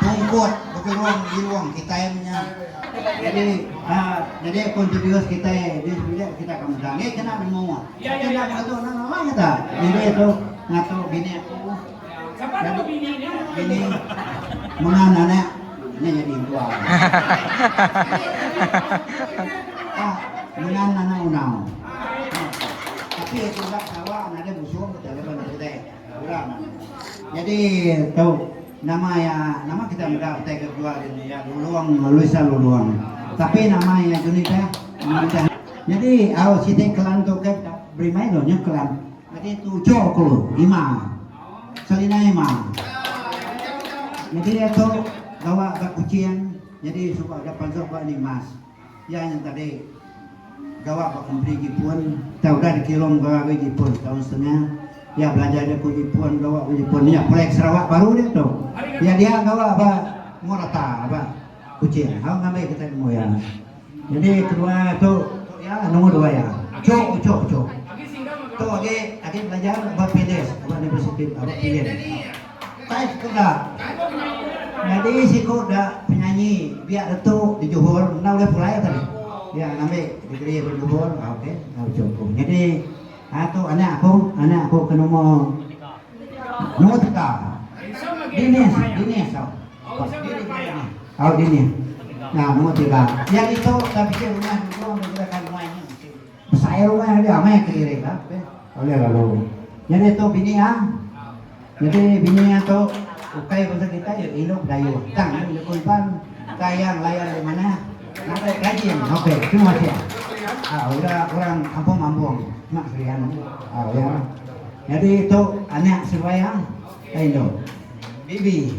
Tungkut begerung irung kitai menya. Jadi jadi pun tujuh kitai di sebilik kita akan meda ngi kena nemu. Kita dah ngatu nang nama kita. Jadi tu ngatu bini aku. Jadi bini mengan anak ni jadi dua. Ah, mengan anak unau. Tapi itu dah kawa ada musuh kita lepas kita. Orang. Nyadi tu nama iya nama kita meda utai ke kebuah dia ni iya Lulong Luisa Lulong. Tapi nama iya Juni Peh nama kita nyadi au siti klan tu ke da beri mai lo nyau klan. Nyadi tujuh ku lima Selina Ema. Nyadi iya tu gawa ba Kuching nyadi suba ga panggau ba Nimas. Iya nyeng tadi gawa ba kompeni Jipun, tang udah dikilo mega agoi Jipun setaun setengah. Iya belajar jaku Jipun, gawa ba Jipun. Nya proyek Sarawak baru dia tu. Iya dia gawa ba Morata ba Kuching. Hau ngambi kitai nemu iya. Nyadi kedua tu tu iya nombor dua iya. Cho cho cho. Tu agi agi belajar ba Pilis ba Universiti ba Pilin. Kai siku da. Nyadi siku da penyanyi biak retu di Johor enda ulih pulai tadi. Iya ngambi degree daripada Johor au ke au ujung ku. Nyadi aa tu anak aku, anak aku ke nombor nombor tiga. Dinis, Dinis au. Au Dinis. Nya nombor tiga. Iya ditu da bisi rumah dulu meh dikirakan nuai nya. Besai rumah aja meh ke diri ka. Ulih lalu. Nyadi tu bini ah. Nyadi bini ah tu ukai bangsa kitai ya indu Bidayuh. Tang indu jaku Iban. Ka iya ngelayan di manah. Ngagai gaji am. Okey. Terima kasih ah. Ah udah orang kampung mambung. Mak serian ah. Ah ya. Nyadi tu anak seruai ah. Ka indu. Bibi.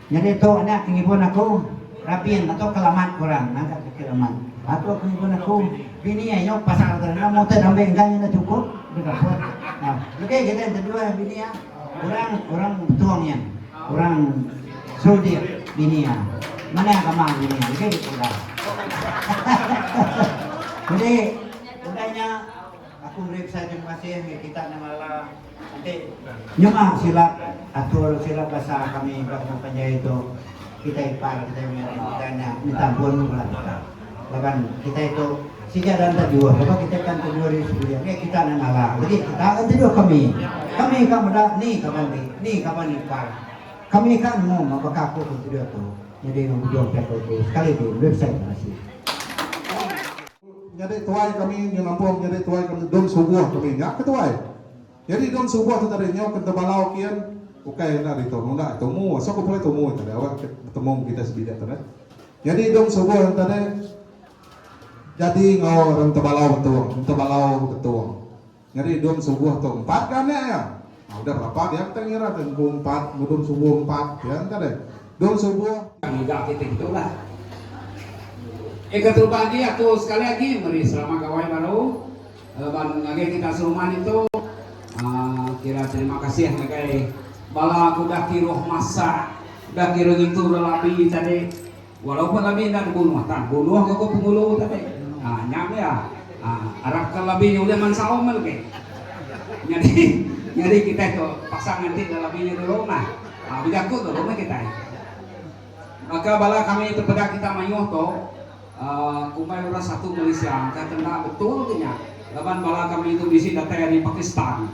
Nyadi tu nya pengibun aku, Rabin, batu ke lamat ke orang ngaga bukit amat. Batu pengibun aku, bini ai nyaup pasal ke enda meh utai dambe enggai enda chukup deh kaput. Nah, lebih kitai enti dua iya bini iya, orang orang Betong iya, orang Serudik bini iya. Manah ke amang bini iya lebih daripada udah. Jadi udah nya. Aku beri pesan terima kasih mih kita nyengala enti nyema silap atur silap basa kami ba tengah panjai tu kitai ipar kitai mih orang Kitai nya minta ampun bala kita laban kitai tu sida enda enda juoh laban kitai kan tejuoh diri sendiri mih kita nyengala legi kita akan tejuoh kami kami ka meda ni kaban ri ni kaban ipar kami ka nemu meh baka aku tu tejuoh tu nyadi nang bujung ti aku tu sekali lagi beri pesan terima kasih. Nyadi tuai kami nyu nampung nyadi tuai kami dom subuh kami nya ke tuai. Nyadi dom subuh tu tadi nyau ke enta balau kin ukai enda ditu nunda tumu aso ke pulai tumu tadi awak ke betemu ngan kitai sebilik tu deh. Nyadi dom subuh nya tadi jadi enggau orang enta balau betong enta balau betong. Nyadi dum subuh tu empat ke anak iya? Nah, udah berapa dia enti ngira tu empu empat enggau dum subuh empat pia enti deh. Dum subuh. Ngiga kitai kitu lah. Eka terubah agi aku sekali agi meri selamat gawai baru laban ngagai kita serumah ditu uhh kira terima kasih ngagai bala ke udah kiruh masak, udah kiruh ngintu bala labi tadi. Walaupun labi enda dibunuh tang bunuh ga ko pengulu tu tadi. Haa nya meh iya. Haa arap ka labi nya ulih mansaum meh legi. Nyadi nyadi kitai tu paksa nganti ga labi nya dulu mah. Haa bejaku dulu meh kitai. Baka bala kami tepeda kita mayuh tu, aa kumbai orang satu Malaysia ka ke enda betul ke nya. Laban bala ka menitu bisi datai ari Pakistan.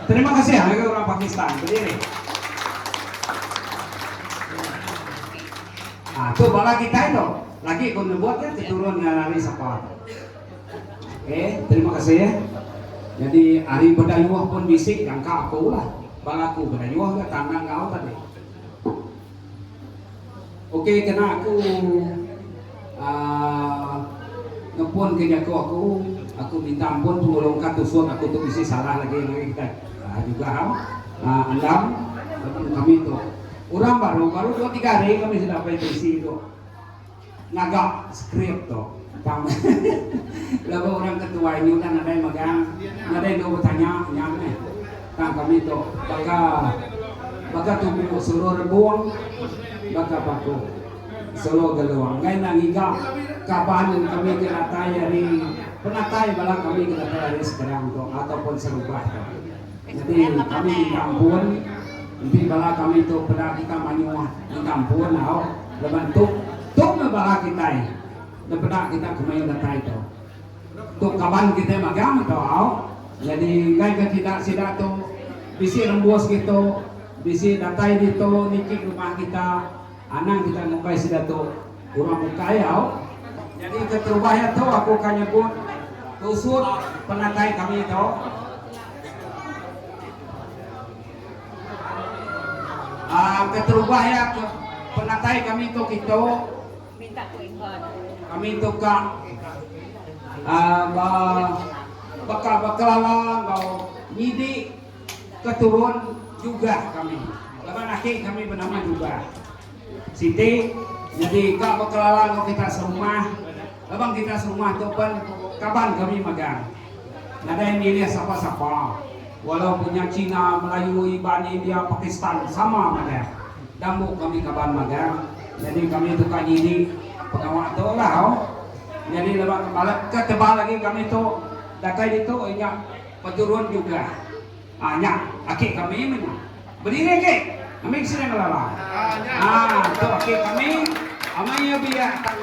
Terima kasih ngagai orang Pakistan bediri. Ha tu bala kitai tu. Lagi ku nebut ya keturun enggau ari sapa. Okey, terima kasih ya. Jadi ari Bedayuh pun bisi jangka aku lah. Bala aku Bedayuh ga tanang enggau tadi. Okey kena aku aaa nepun ke jaku aku, aku minta ampun pengelung ka tusuk aku tu bisi salah lagi ngagai kitai aaa juga am aaa andam kami tu urang baru baru dua tiga hari kami sida apai bisi tu. Ngaga skrip tu tang laban orang ke tuai ni udah nadai magang nadai enggau betanya nya meh tang kami tu baka baka tubu sulu rebong baka paku sulu gelong enggai enda ngiga kaban kami ke datai ari penatai bala kami ke datai ari seberang tu ataupun serubah tu. Enti kami di kampun, enti bala kami tu peda kita mayuh di kampun au laban tu tu meh bala kitai da peda kita ke mayuh datai tu. Tu kaban kitai magang tu au nyadi enggai ka kida sida tu bisi rembus ditu, bisi datai ditu niki rumah kita. Anang kitai mukai sida tu urang bukai au. Jadi keterubah iya tu aku ka nyebut tusut penatai kami tu. Keterubah iya ke penatai kami tu kitu. Kami tu ka ba baka ba kelalang enggau nyidi. Keturun Jugah kami laban aki kami benama Jugah. Siti nyadi ka bekelala enggau kita serumah laban kita serumah tu pen kaban kami megang. Nadai milih sapa-sapa walau pun nya China, Melayu, Iban, India, Pakistan sama madah. Dambu kami kaban megang nyadi kami tu ka nyidi pengawa tu lah. Nyadi laban balat ke tebal agi kami tu datai ditu inya. Peturun juga. Ah nya aki kami meh nya. Bediri aki. Ambi ke sini ngelala. Ah tu aki kami. Amai iya biak tang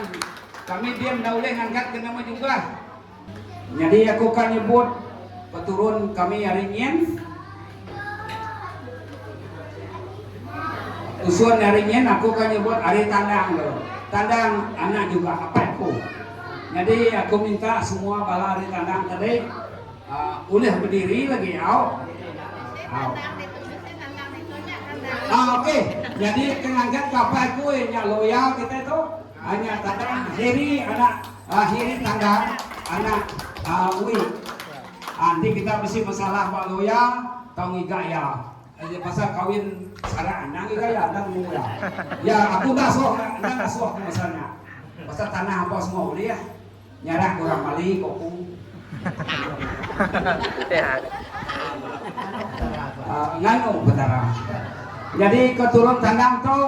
kami diam enda ulih ngangkat ke nama juga. Nyadi aku ka nyebut peturun kami ari nyin. Usun ari nyin aku ka nyebut ari Tandang tu. Tandang anak juga apai aku. Nyadi aku minta semua bala ari Tandang tadi. Ulih bediri lagi au. Au. Ah, okey. Jadi ke ngagat kapai kui nya loya kita tu. Ah, nya tanda Heri anak ah, Heri Tanggang anak ah, Ui. Ah, enti kita bisi masalah ba loya tau ngiga iya. Eh, pasal kawin sarak endang ngiga iya, endang nemu iya. Ya, aku enda suah, enda enda suah aku pasal nya. Pasal tanah apa semua ulih. Nyarak ke orang Bali ke aku. Nganu Petara. Nyadi ke turun kandang tu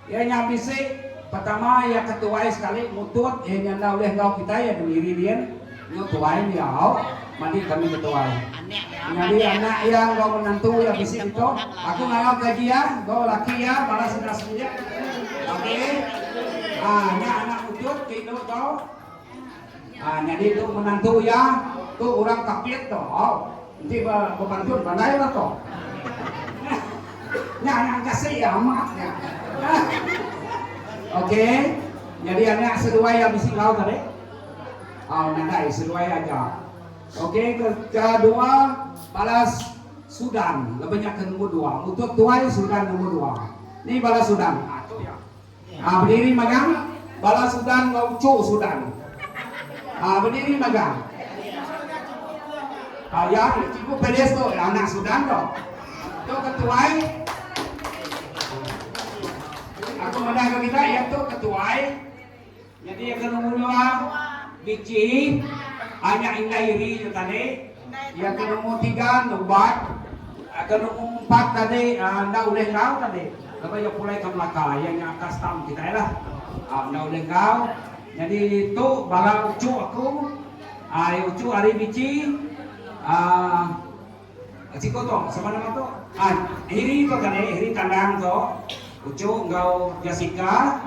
iya nya bisi pertama iya ke tuai sekali mutut iya nya enda ulih enggau kitai iya ke miri din nya tuai nya au. Madi kami betuai. Nyadi anak iya enggau menantu iya bisi ditu. Aku ngarau gaji iya enggau laki iya bala sida semilik. Okey. Ha nya anak mutut ti indu tu. Ha nyadi tu menantu iya tu orang Kapit tu. Au. Enti ba bepantun pandai lah tu. Nya anak engkasih iya amat nya. Okey. Nyadi anak seduai iya bisi enggau tadi. Au nadai seduai aja. Ok ke kedua balas sudan leba nya ke nombor dua mutut tuai sudan nombor dua ni balas sudan ha tu ya ha bediri magang balas sudan enggau uchu sudan ha bediri magang ha ya cikgu pelis tu anak sudan tu tu ke tuai aku meda ke kita ya tu ke tuai Nyadi iya kena ngundang biji anak indai iri nya tadi, iya ke nombor tiga enda ubat, ke nombor empat tadi enda ulih enggau tadi laban iya pulai ke Melaka iya nya atas tam kitai lah enda ulih enggau nyadi tu bala uchu aku ai uchu ari biji um siku tu sapa nama tu um Heri tu tadi Heri Tandang tu uchu enggau Jessica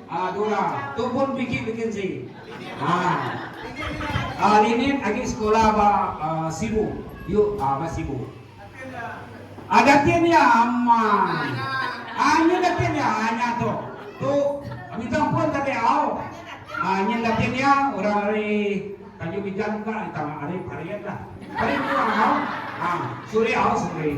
Ah dura tu pun bigit vacancy. Ah ah Linit agi sekolah ba Sibu. Yu ah ba Sibu. Ah datin iya amai. Ah nyin datin iya ah nya tu. Tu Migang pun tadi au. Ah nyin datin iya orang ari Tanjung Migang ka ari Parit lah. Parit yu au. Ah Suri au Suri.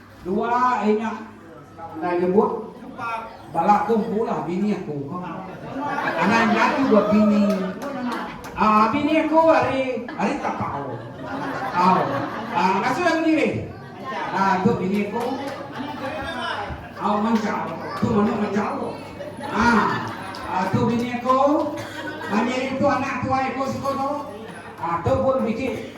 Dua ari nya ndai nyebut bala aku mpulah bini aku. Anang nya tu ba bini ah bini aku ari ari tapau. Au. Ah ngasuh aku diri. Ah tu bini aku. Au mancau. Tu manu mancau. Ah. Ah tu bini aku. Manyeri tu anak tuai aku suku tu. Ah tu pun biji.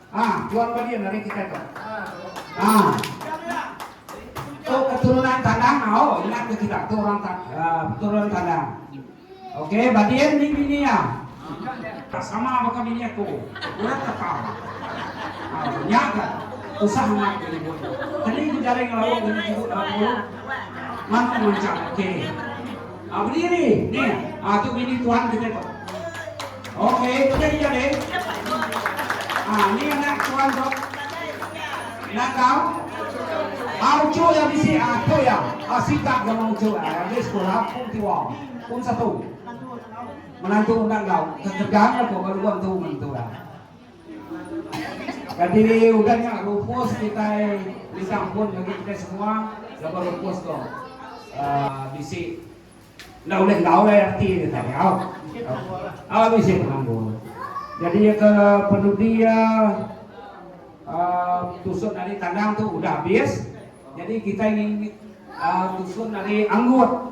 Ah, jual ke dia nari kita tu. Ah. Tu keturunan tandang au, oh, ingat ke kita tu orang tak uh, ah, keturunan tandang. Okey, badian ni bini ya. Tak sama baka bini aku. Urat tak tahu. Ah, ya ke? Usah nak ke ibu. Tadi ku jaring lalu ke ibu. Mantu macam, okey. Ah bediri neh ah tu bini tuan kita tu. Okey tu jadi jadi. Ah ni anak tuan tu. Nak kau? Ah ucu ya bisi ah tu ya. Ah sikap dia mau ucu ah di sekolah pun tiwa. Pun satu. Menantu undang kau. Kekerjaan aku kalau tuan tu mentu lah. Kati udah nya Rufus kitai misah pun ngagai kitai semua laban Rufus tu bisi enda ulih enggau ai ati dia tau nyau bisi penanggul jadi iya ke penudi iya tusun ari kandang tu udah abis jadi kitai ngini tusun ari anggut.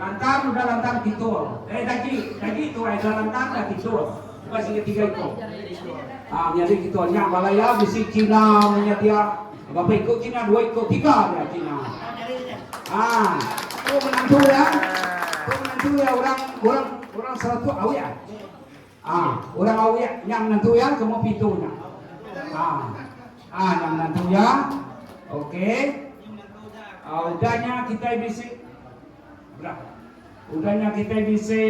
Lantar udah lantar titul. Eh dagi, dagi tuai udah lantar dah titul. Bukan sini tiga ikut. Ha, ah, nyari kita nya balaya bisi Cina punya dia. Berapa ikut Cina? Dua ikut, tiga dia Cina. Ha, ah, tu menantu ya. Tu menantu ya orang orang orang satu awak. Ah orang awek nya menantu iya ke umur pitu nya. Ah. Ah nya menantu iya. Okey. Ah udah nya kitai bisi belah. Udah nya kitai bisi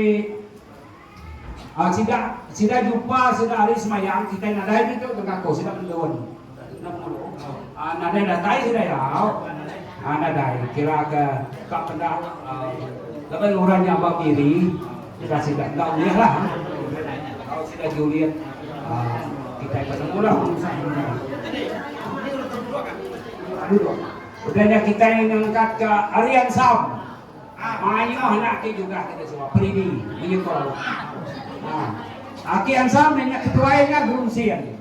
ah sida sida jumpa sida hari semayang kitai nadai ditu tengah ko sida mendun. Nadai datai sida iya au. Aa nadai kira ke ka peda laban orang nya ba miri udah sida enda ulih lah. Au sida julit aa kitai penemu lah penusah inya. Udah nya kitai ngangkat ka ari ansam mayuh anak ti jugah kita suah peridi menyekau. Aa aki ansam nya ketuai nya Gurun Sin.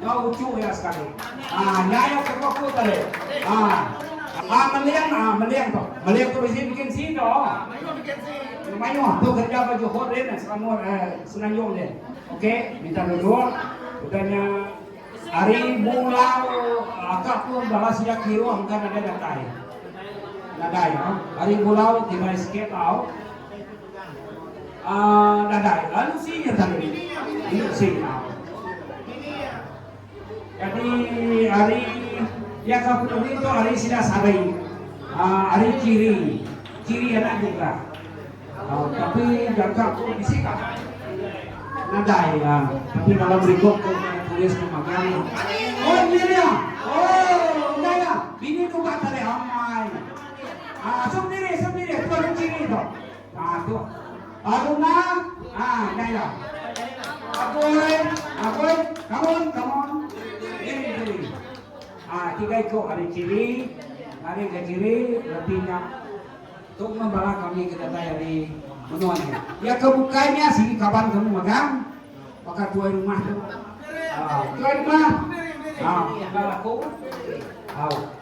Nyau uchu iya sekali. Ah nya iya ke poku tadi. Ah. Ah meling ah meling tu. Meling tu bisi bikin si tu. Ah mayuh bikin si. Mayuh tu kerja ke Johor dia ni Selangor eh Semenanjung dia. Okey, minta duduk. Udahnya hari bulan akak pun balas dia kira engkau ada datai. Datai ah. Hari bulan tiba sikit tau. Dadai ensi nya tadi enda signal. Jadi ari iya ka penemu tu ari sida sari ari chiri chiri anak jugrah tapi jaga ko bisi ka nadai tapi dalam rikop ko nya tulis ko magang oh nya dia oh enda iya bini tu ka tadi amai. Haa sup diri sup diri tua kunci ni tu. Haa tu. Baru na haa nyai la. Apoy apoy kamun kamun. Diri diri. Haa tiga iko ari ciri ari ga ciri reti nya tu mun bala kami ke datai ari menua ni. Ya ke bukai nya sigi kaban kami megang baka tuai rumah tu. Haa tuai rumah. Haa enda laku. Au.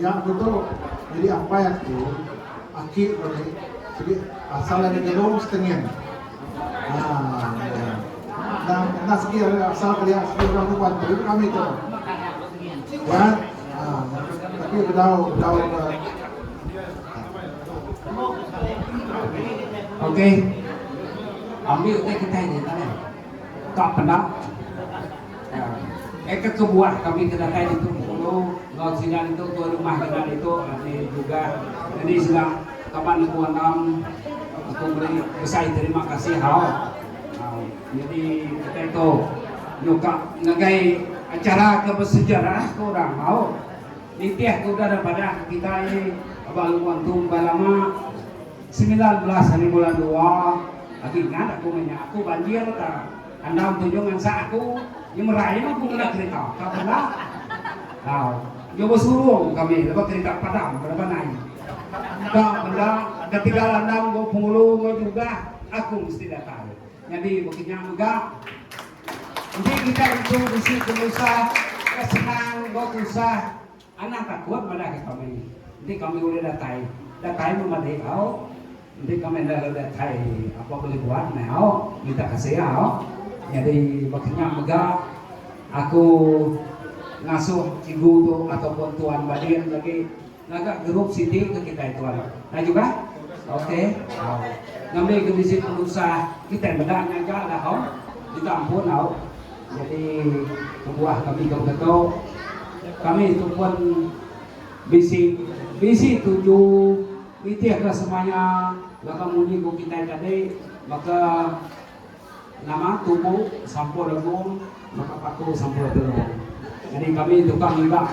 Nya betul nyadi ampai aku aki bagi sigi asal ari Genong Stengin enda enda sigi ari asal kelia sigi orang tu bantu ke kami tu kan tapi bedau bedau Okey. Ambi utai kitai nya ita neh. Ka peda. Ai ka kebuah kami ke datai ditu Bengkulu enggau sida ditu tuai rumah kena ditu ati juga nyadi sida kaban aku andam aku meri besai terima kasih hau nyadi kitai tu nyuka ngagai acara ke bersejarah ke orang hau nitih ke udah da padah kitai aba lubang tu embai lama. Semilan belas hari bulan dua agi ingat aku meh nya aku banjir ta andam tunjung ngansak aku nyemerai meh aku ngena kerita ka bandar tau nyu besurung kami lebuh kerita padam beraban ai ka bandar ketegal andam go pengulu go jugah aku mesti datai nyadi baka nya mega enti kitai intu bisi penusah ka senang go tusah. Anang takut madah ke kami, enti kami ulih datai, datai meh madi au, enti kami enda ulih datai apai bulih buat meh au, minta kasih au. Nyadi baka nya mega aku ngasuh cikgu tu ataupun tuan Badin lagi ngaga group siti ke kitai tuan. Nah juga? Ok au. Ngambi ke bisi penusah kitai meda nya aja lah au. Minta ampun au. Jadi kebuah kami tau ke tu kami tu pun bisi bisi tuju nitih ke semaya laban munyi ku kitai tadi baka nama tubu sampur legung baka patu sampur telung jadi kami tukar ngiga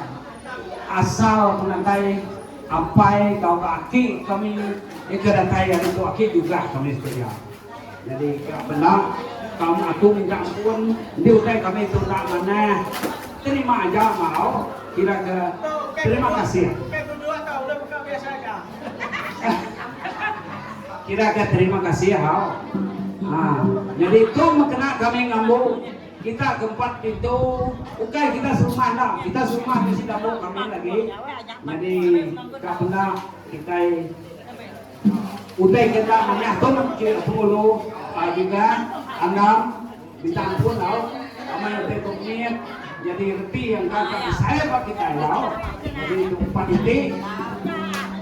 asal penatai apai tauka aki kami ika datai ari tu aki jugah kami sedia. Nyadi ka benda tang aku minta ampun enti utai kami tu enda manah terima aja mau kira ke terima kasih. Kira ke terima kasih hau. Ha nyadi tu meh kena kami ngambu kita ke empat pintu ukai kita serumah enda kita serumah mesti dabu kami lagi nyadi ka benda kitai Utai kita manah tu ke pengulu juga anang minta ampun tau amai utai tu mit nyadi reti yang enda ka besai ba kitai tau nyadi tu empat iti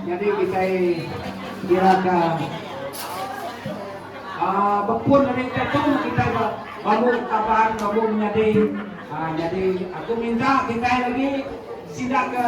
nyadi kitai kira ka aaa bepun ari utai tu kitai ba bambu taban bambu menyadi aaa nyadi aku minta kitai lagi sida ke.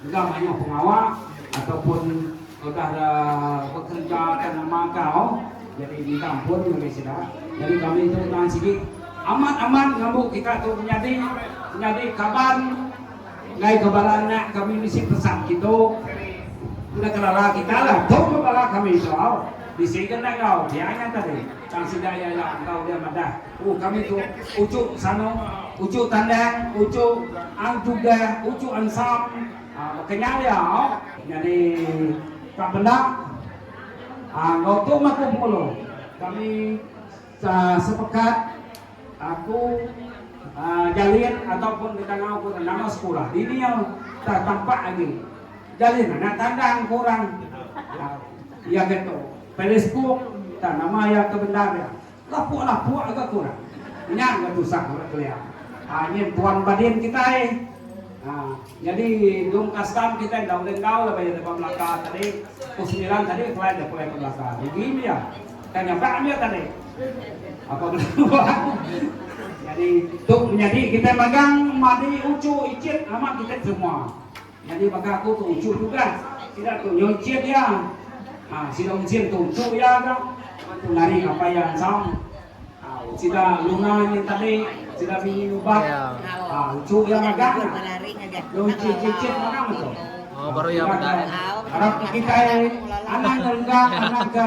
Enda mayuh pengawa ataupun udah da bekereja ka nama kau jadi minta ampun ngagai sida. Jadi kami tu tahan sigi amat amat ngambu kita tu menyadi menyadi kaban enggai ke bala anak kami bisi pesan kitu enda kelala kita lah tu ke bala kami tu au bisi ke enda enggau dia nya tadi tang sida iya nya enggau dia madah. Ku kami tu, uchu sano, uchu tandang, uchu ang tuga, uchu ansam, baka nya aja. Nyadi ka benda enggau tu mah ku pengulo kami sepekat ku jalin ataupun ditangau ku nama sekula dini iya tah tampak agi jalin anak tandang ku orang iya ke tu Facebook tah nama iya ke bendar iya. Lapuk lapuk ga ko orang. Nya ga tusah ko orang kelia. Haa nyin tuan badin kitai. Haa jadi dong kastam kitai enda ulih enggau laban iya deh ba Melaka tadi. Pukul semilan tadi kelai deh pulai ke Melaka. Rugi meh iya. Ka nyabak meh iya tadi. Apa bela buah. Jadi tu menyadi kitai magang madi uchu ichin amat kitai terima. Nyadi baka aku tu uchu tugas sida tu nyuncit iya ha sida uncit tu untu iya ga ngan tu ngari ngapa iya ensam ha sida lunga nyin tadi sida bini nubat ha uchu iya magang iya uncit cicit manang tu ha ibarat kitai anang renggang anang ke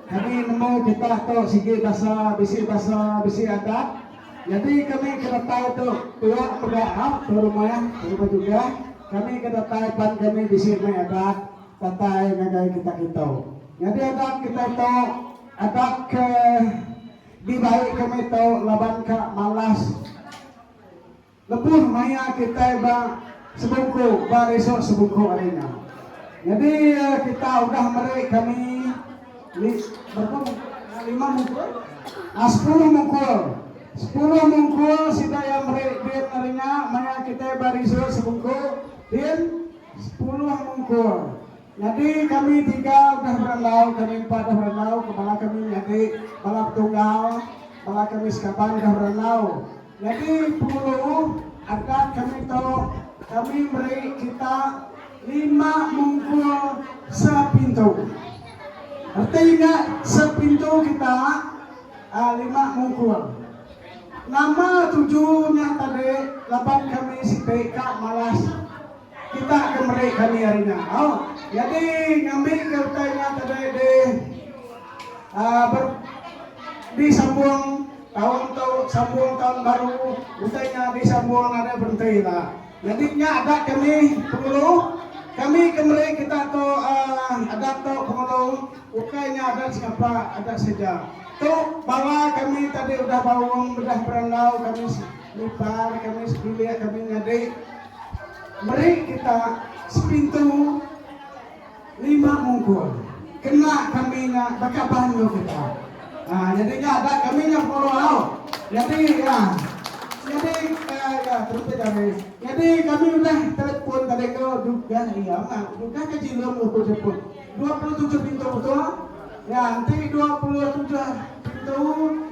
Kami nemu kitak tu sigi basa, bisi basa, bisi adat. Nyadi kami ke datai tu tuak mega hak tu rumah, rumah jugah. Kami ke datai pan kami bisi meh adat datai ngagai kitak kitu. Nyadi adat kitai tu adat ke dibai kami tu laban ka malas. Lebuh maya kitai ba sebungku ba resort sebungku ari nya. Nyadi kita udah meri kami berapa mungkul lima mungkul aaa sepuluh mungkul. Sepuluh mungkul sida iya meri din ari nya maya kitai ba resort sebungku din sepuluh mungkul. Nyadi kami tiga udah berandau kami empat udah berandau ke bala kami nyadi bala petunggal bala kami sekaban udah berandau. Nyadi Pengeluh adat kami tu kami meri kita lima mungkul sepintu. Reti nya sepintu kita lima mungkul. Nama tuju nya tadi laban kami siti ka malas. Kita ke meri kami hari nya. Au. Nyadi ngambika utai nya tadai di aaa ber disambung taun tu sambung taun baru utai nya disambung nadai berenti la. Nyadi nya adat kami Penghulu. Kami ke meri kita tu aaa adat tu Penghulu ukai nya adat sengapa adat seja. Tu bala kami tadi udah baum udah berandau kami nipar kami sebilik kami nyadi. Meri kita sepintu lima mungkul. Kena kami nya baka bandu kita. Ha nyadi nya ada kami nya pengawa au. Nyadi iya nyadi iya terus aja meh. Nyadi kami udah telepon tadi tu dugah iya mah dugah ke jilum nuku telepon. Dua puluh tujuh pintu betul. Nya enti dua puluh tujuh pintu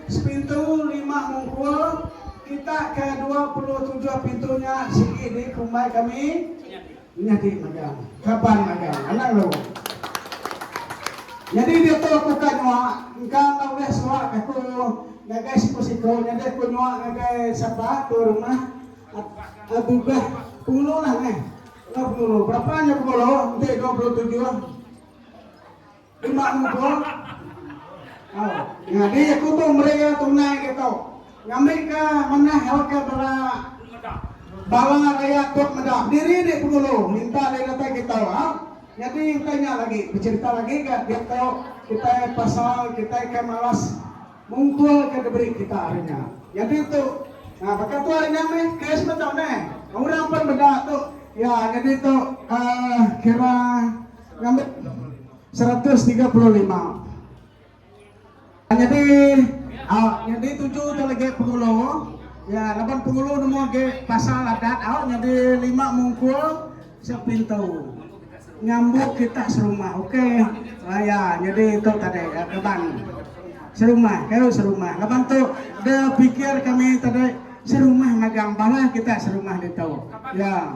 sepintu lima mungkul. Kita ke dua puluh tujuh pintu nya sigi di kumbai kami nyadi magang. Kaban magang. Anang lu. Nyadi diatu aku ka nyua, engka enda ulih suak aku ngagai siku-siku nyadi aku nyua ngagai sapa tu rumah a Tugah Pengulu lah neh. Tugah Pengulu. Berapa nya Pengulu enti dua puluh tujuh? Dema nguba. Au. Nyadi aku tu meri iya tunai ke tu. Ngambika manah helka bala bala rayat tok meda. Diri di Pengulu minta deh datai kita. Au. Nyadi utai nya lagi becerita lagi ga dia tu kitai pasal kitai ke malas ngumpul ke diberi kita hari nya. Nyadi tu Nah baka tu hari nya meh Chris meh tu neh. Orang pun meda tu. Ya nyadi tu uhh kira. Ngambi seratus tiga puluh lima. Nyadi au nyadi tuju tu lagi pengulu. Ya laban pengulu nemu agi pasal adat au nyadi lima mungkul sepintu. Ngambu kita serumah okey. Ah ya nyadi tu tadi ya kaban. Serumah ke serumah laban tu de pikir kami tadi serumah magang bala kita serumah ditu. Ya.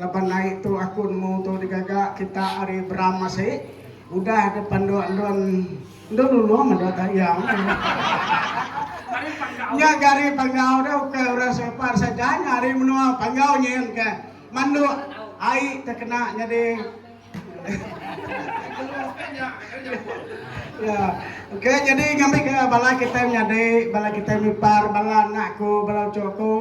Laban ai tu aku nemu tu digaga kita ari Bram asi udah deh panduk endun endun ulung endun tahyang nya gari panggau deh ukai orang Selpar saja nya ari menua panggau nyin ke manduk ai te kena nyadi ya ukai nyadi ngambi ke bala kitai menyadi bala kitai mipar bala anak ku bala uchu ku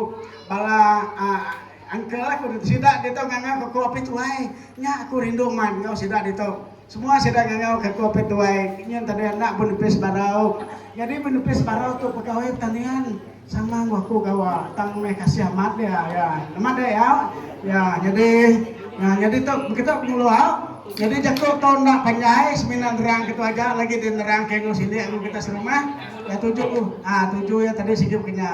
bala aa. Uncle aku sida ditu ngangau ka aku Apit Tuai. Nya aku rindu amat enggau sida ditu. Semua sida ngangau ka aku Apit Tuai. Nyin tadi anak benepis barau. Nyadi benepis barau tu pegawai pertanian sama enggau aku gawa tang meh kasih amat dia iya. Amat deh iya. Iya nyadi iya nyadi tu begitu pengulo au. Nyadi jaku tu enda panjai semina nerang ke tu aja lagi dinerang ke enggau sili enggau kita serumah. Iya tuju iya tuju iya tadi sigi baka nya.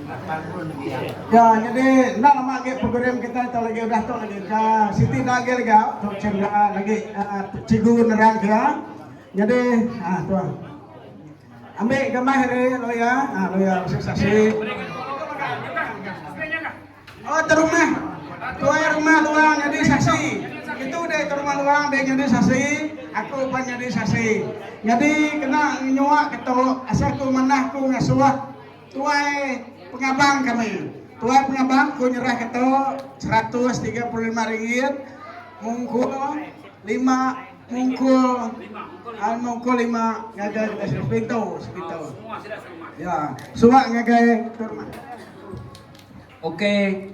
Ya nyadi enda lama agi program kitai tu lagi udah tu lagi ka siti enda agi lagi au tu cin nya lagi cigu nerang ke iya nyadi aaa tu ambi ga meh ari lawyer aaa lawyer bisi saksi oh tu rumah tuai rumah luang nyadi saksi itu deh tu rumah luang deh nyadi saksi aku pun nyadi saksi nyadi kena nyua ketu asal ku manah ku ngasuh. Tuai pengabang kami. Tuai pengabang ku nyerahka tu seratus tiga puluh lima ringgit mungkul lima mungkul ai mungkul lima ngagai kita sepintu sepintu. Ya, suak ngagai tu rumah. Ok,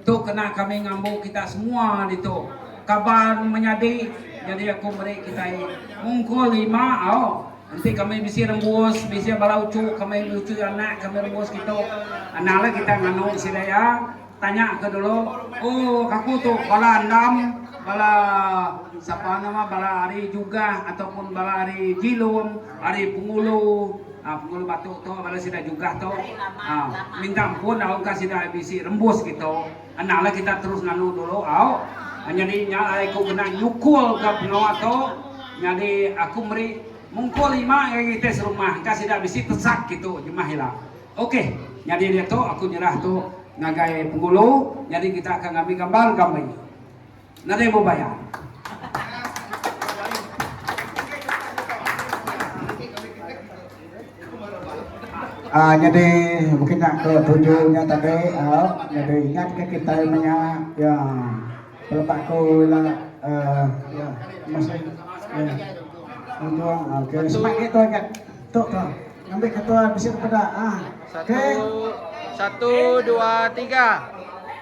tu kena kami ngambu kita semua ditu. Kaban menyadi, nyadi aku meri kitai mungkul lima au. Enti kami bisi rembus, bisi bala uchu kami enggau uchu anak kami rembus kitu, enda la kita nganu sida iya. Tanya ke dulu, oh kaku tu bala andam, bala sapa nama bala ari Jugah ataupun bala ari Jilum. Ari Pengulu, Pengulu Batu tu bala sida jugah tu minta ampun lalu engka sida bisi rembus gitu. Anang lah kita terus nganu dulu au. Nyadi nya alai aku kena nyukul ka pengawa tu. Nyadi aku meri mungkul lima ngagai kitai serumah engka sida bisi tesak gitu jemah ila. Ok nyadi diatu aku nyerah tu ngagai Pengulu nyadi kita akan ngambi gambar ga meri. Nadai mau bayar. Ah nyadi mungkin nak ke tuju nya tadi ah nyadi ingat ke kita menya ya pelebak ko ila eh ya masih ya untuk ah, ke semak ke tu ingat tu tu ambil ke tu bisi pada ah ke satu dua tiga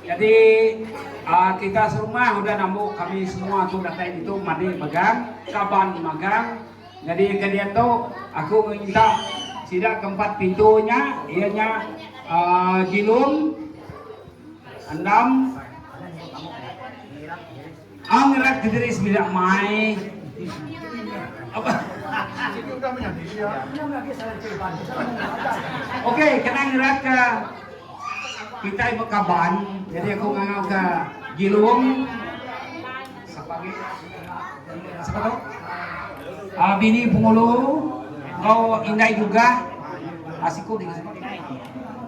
Jadi aa kita serumah udah nambu kami semua tu datai ditu madi megang kaban magang jadi ke dian tu aku nginta sida ke empat pintu nya iya nya aa Jilum Endam Ang rat ke diri semina mai. Okey kena ngerat ke kitai ba kaban jadi aku ngangau ke Gilung sebagai siapa tu? Uh, bini pengulu kau indai juga asiku ah, dengan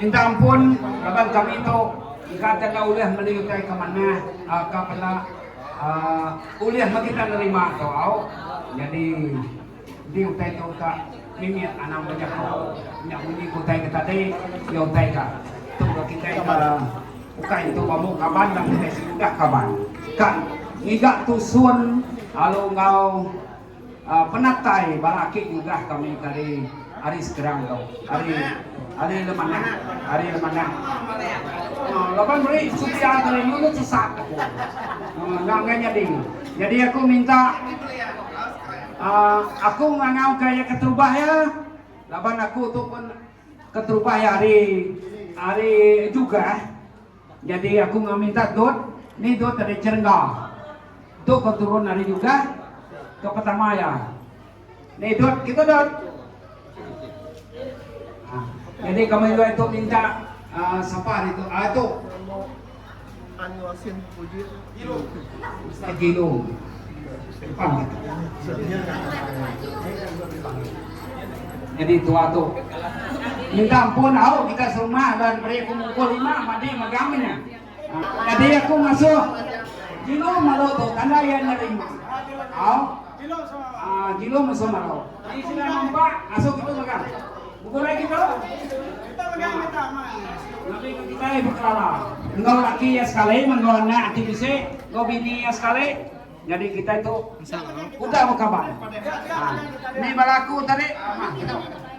Minta ampun laban kami tu engka tega ulih meli utai ke manah ka peda ulih meh kita nerima tu au nyadi enti utai tu ka mimit anang ba jaku nya munyi ke utai ke tadi iya utai ka tu ga kitai ka ukai entu ba mung kaban tang kitai sigudah kaban ka ngiga tusun lalu enggau Penatai bala aki nyugah kami ke ari ari Skrang tu ari ari le manah ari le manah uhh laban meri setia tu ari ulu sesat aku uhh nya enggai nyadi jadi aku minta uhh aku ngangau ka iya keterubah iya laban aku tu pun keterubah iya ari ari jugah Jadi aku enggau minta dot ni dot ari Cherengga tu ko turun ari Jugah ke pertama iya ni dot kitu dot ha jadi kami dua tu minta sapa ari tu a tu. Annual Sin Pujit. Nyadi tua tu minta ampun au kita serumah dan beri aku mukul lima madi megang nya. Nyadi aku ngasuh Jino malu tu tanda iya nerima. Au. Jilong mensia marau. Ti sida ngempa ngasuh kitu mega. Begulai kitu. Nabi enggau kitai bekelala. Enggau laki iya sekali, enggau anak ati bisi, enggau bini iya sekali. Nyadi kitai tu udah bekaban. Ni bala aku tadi. Kitu.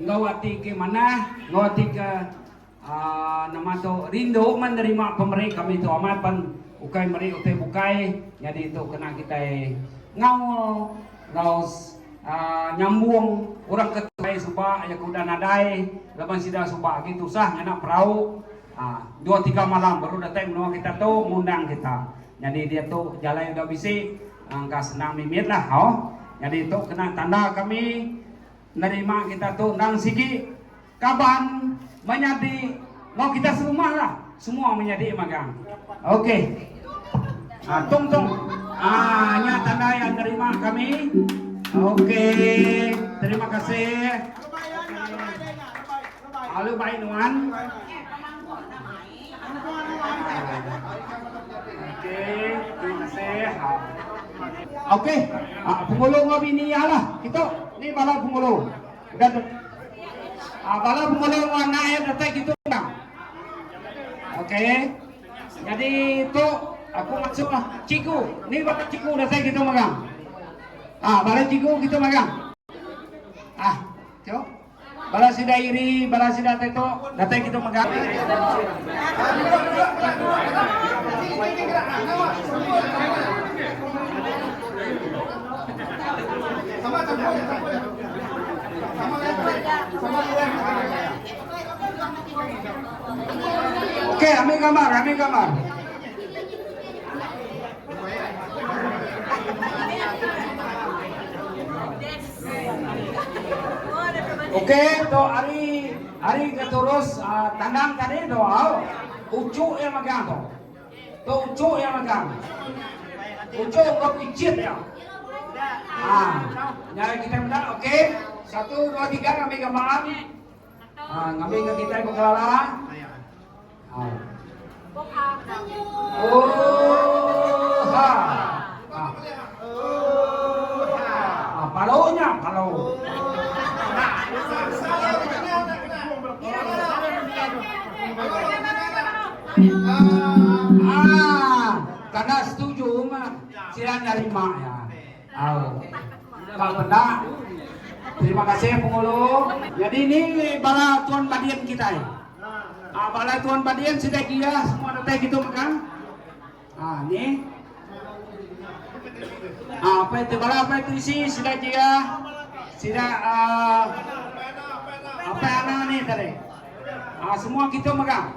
Enggau ati ke manah, enggau ati ke aaa nama tu rindu meh nerima pemeri kami tu amat pan ukai meri utai bukai nyadi tu kena kitai ngaul enggau aaa nyambung orang ke tuai suba iya ke udah nadai laban sida suba agi tusah ngena perau aaa dua tiga malam baru datai menua kita tu ngundang kita. Nyadi diatu jalai udah bisi engka senang mimitlah hau. Nyadi tu kena tanda kami. Nerima kita tu endang sigi kaban menyadi enggau kita serumah lah semua menyadi magang ok ah tong tong ah nya tanda yang nerima kami ok terima kasih alu baik nuan Ok penghulu enggau bini iya lah kitu ni bala penghulu udah bala penghulu enggau anak iya datai kitu endang ok jadi tu aku masuk lah cikgu ni bala cikgu datai kitu magang ah bala cikgu kitu magang ah tio Bala sida iri, bala sida teto, datai kitu mega. Okey, ambil gambar, ambil gambar. Oke tu ari ari ke turus tandang tadi tu au ucu ia megang tu. Tu ucu ia megang. Ucu ke picit ia. Ha. Nyari kita meda okey. Satu dua tiga kami gambar. Ngambika kitai pengelala. Uha. Palu nya, palu. Ah, kena setuju mah. Sila nerima ya. Au. Ka peda. Terima kasih Penghulu. Nyadi ni bala tuan badin kitai. Ah bala tuan badin sida gia semua datai kitu mega. Ah ni. Ah apai ti bala apai trisi sida gia sida ah apai ana ni tadi. Ah semua kitu mega.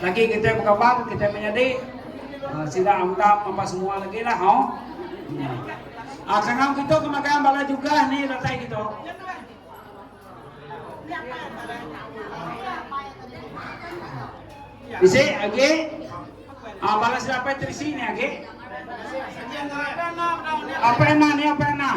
Lagi kitai bekaban kitai menyadi ah, sida amdap apa semua lagi lah oh. Ah kangau kita ke makan bala juga ni datai kita. Bisa lagi ah bala sida apa terisi ni lagi. Apa enak ni apa enak?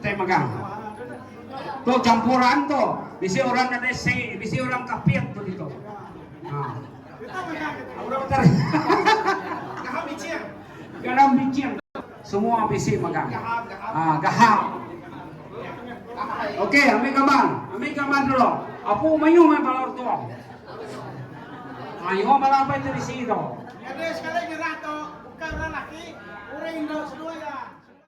Te mega. Tu campuran tu. Bisi orang nadai se, bisi orang kapit tu ditu. Ha. Garam bicing. Garam bicing. Semua bisi mega. Ha, gahap. Okey, ambil gambar. Ambil gambar dulu. Apu mayu mai balor tu. Mayu balor apa itu bisi tu. Jadi sekali nyerah tu bukan orang laki, orang Indo semua ya.